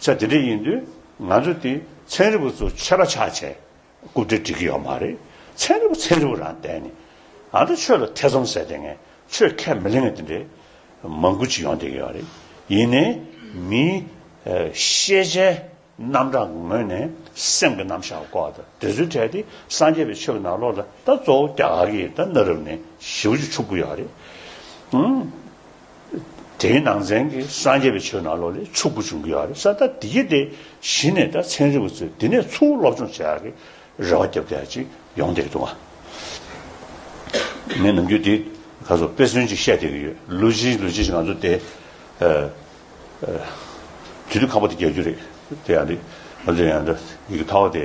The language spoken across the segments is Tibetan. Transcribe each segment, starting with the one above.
ཚེ་དེ་འདྲ་ཡིན་དུས་ང་ཚོ་དེ་ཚན་རིག་པ་ཚོ་ཆད་པ་ཆགས་ཆེ་རྐུབ་སྟེགས་སྒྲིག་གི་ཡོད་མ་རེད་ཚན་རིག་པ་ཚན་རིག་པ་རང་བསྡད་ནས་ཨ་མདོ་ཆོས་ལ་ཐེ་ཚོམ་ཟེར་དེ་ངས་ཆོས་ཁས་མི་ལེན་ངས་དེ་འདྲའི་མང་པོ་ཅིག་ཡོང་བསྡད་ཀྱི་ཡོད་རེད་ཡིན་ནའི་མིའི་ཤེས་བྱའི་རྣམ་གྲངས་ཀྱི་ངོས་ནས་སེམས་ཀྱི་རྣམ་གཞག་གི་སྐོར་དང་དེ་ཚོའི་གྲས་དེ་སངས་རྒྱས་པའི་ཆོས་ཀྱི་ནང་ལོགས་ལ་ད་གཙོ་བོ་རྒྱ་གར་གྱི་ད་གནའ་རབས་ནས་ཞི་བ་ཅིག་ཆུག་གི་ཡོད་རེད། དེའི་ནང་ཚན་གྱི་སངས་རྒྱས་པའི་ཆོས་ནང་ལོགས་ལས་ཕྱུག་པོ་འབྱུང་གི་ཡོད་རེད་ས་ད་དེ་གྱི་དེ་གཞི་ནས་ད་ཚན་རིག་པ་ཚོས་དེ་ནས་ཚུར་སློབ་སྦྱོང་བྱེད་ཡག་གི་རེ་བ་རྒྱབ་ཀྱི་ཡ་ཅིག་ཡོང་བསྡད་འདུག་ང་ནམ་རྒྱུན་དེ་ག་ཚོ་དཔེ་མཚོན་ཅིག་བཤད་བསྡད་ཀྱི་ཡོད་ལུས་ཅིག་ལུས་ཅིག་ང་ཚོ་དེ་དུས་དུས་ཁ་པོ་དེ་རྒྱག་རྒྱུ་རེད་དེ་ཡང་རེད་ང་ཚོ་ཡང་ཡི་གེ་ཐ་བ་དེ།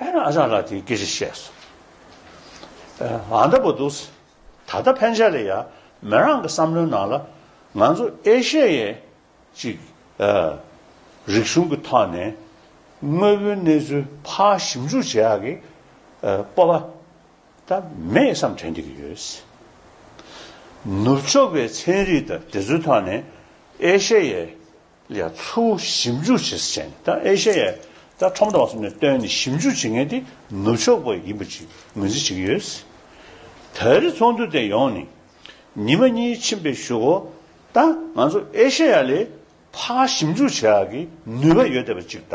ཨེ་རང་རང་ལ་དེ་སྐད་ཅེས་བཤད་སོ། ཨཱ་འདྲ་པོ་འདུག། ད་ལྟ་ཕན་ཆད་ལ་ཡ། མོ་རང་གི་བསམ་བློའི་ནང་ལ། ང་ཚོ་ཨེ་ཤེ་ཡའི། ཅིག། རིག་གཞུང་གི་ཐོག་ནས། དངོས་པོའི་གནས་ཚུལ་ཕ་ཞིབ་འཇུག་བྱེད་ཡག་གི། སྤོབས་པ། ད་མེད་བསམ་དྲན་གྱི་ཡོད། ནུབ་ཕྱོགས་པའི་ཚན་རིག་དང་དེ་ཚོའི་ཐོག་ནས། ཨེ་ཤེ་ཡའི། ལ་ཚུར་ཞིབ་འཇུག་བྱེད་ས་བྱས་ནས་ད་ཨེ་ཤ་ཡའི་ད་ཁྲོམ་ར་བ་གསུམ་ནས་བཏོན་ནས་ཞིབ་འཇུག་བྱེད་མཁན་དེ་ནུབ་ཕྱོགས་པ་ཡིན་པ་ཅིག་ངོས་འཛིན་བྱེད་ཀྱི་ཡོད། ད་རེས་ཚོགས་འདུ་དེ་ཡོང་ནས་ཉིན་མ་གཉིས་ཕྱིན་པའི་ཞོར་འོ་ད་ང་ཚོ་ཨེ་ཤ་ཡ་ལས་ཕ་ཞིབ་འཇུག་བྱེད་ཨ་གི་ནུས་པ་ཡོད་བསྡད་པ་ཅིག་ད